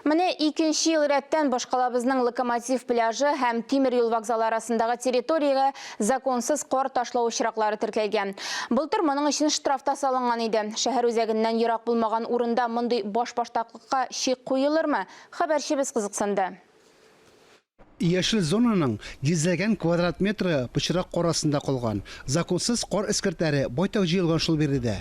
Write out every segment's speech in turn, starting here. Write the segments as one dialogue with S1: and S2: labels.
S1: Менә икенче ел рәттән башкалабызның Локомотив пляжы һәм тимер юл вокзалы арасындагы территориягә законсыз кар ташлау очраклары теркәлгән. Былтыр моның өчен штраф та салынган иде. Шәһәр үзәгеннән ерак булмаган урында мондый башбаштаклыкка чик куелырмы? Хәбәрчебез кызыксынды.
S2: Яшел зонаның йөзләгән квадрат метры пычрак кар астында калган. Законсыз кар эскертләре байтак җыелган шул биредә.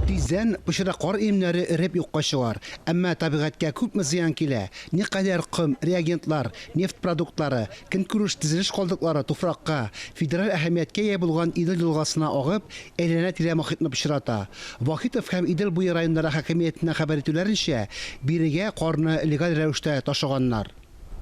S2: Тиздән пычрак кар өемнәре эреп юкка чыгар. Әмма табигатькә күпме зыян килә, никадәр ком, реагентлар, нефть продуктлары, көнкүреш-тезелеш калдыклары туфракка, федераль әһәмияткә ия булган Идел елгасына агып, әйләнә-тирә мохитне пычрата. Вахитов һәм Идел буе районнары хакимиятеннән хәбәр итүләренчә, бирегә карны легаль рәвештә ташыганнар.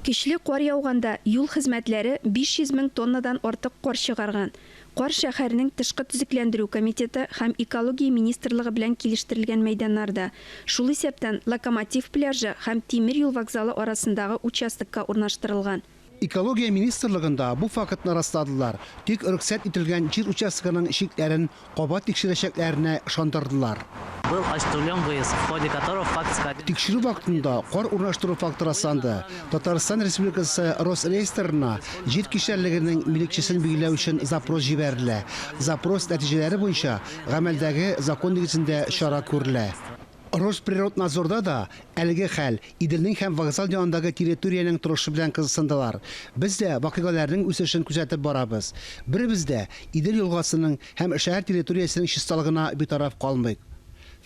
S2: Көчле кар
S3: яуганда юл хезмәтләре 500 мең тоннадан артык кар чыгарган. Кар шәһәрнең Тышкы төзекләндерү комитеты һәм Экология министрлыгы белән килештерелгән мәйданнарда, шул исәптән Локомотив пляжы һәм Тимер юл вокзалы арасындагы участокка урнаштырылган. Экология
S2: министрлыгында бу фактны расладылар, тик рөхсәт ителгән җир участогының чикләрен кабат тикшерәчәкләренә ышандырдылар. Был ачтүлем
S4: выезд, в ходе которого факт скабель. Тикшерү вакытында
S2: кар урнаштыру факты расланды. Татарстан Республикасы Росреестрына җир кишәрлегенең милекчесен билгеләү өчен запрос җибәрелә. Запрос нәтиҗәләре буенча гамәлдәге закон нигезендә чара күрелә. Росприроднадзорда да әлеге хәл, Иделнең һәм вокзал янындагы территориянең торышы белән кызыксындылар. Без дә вакыйгаләрнең үсешен күзәтеп барабыз. Беребез дә Идел елгасының һәм шәһәр территориясенең чисталыгына битараф калмыйк.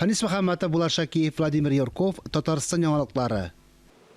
S2: Фәнис Мөхәммәтов, Булат Шакиев, Владимир Юрков, Татарстан яңалыклары.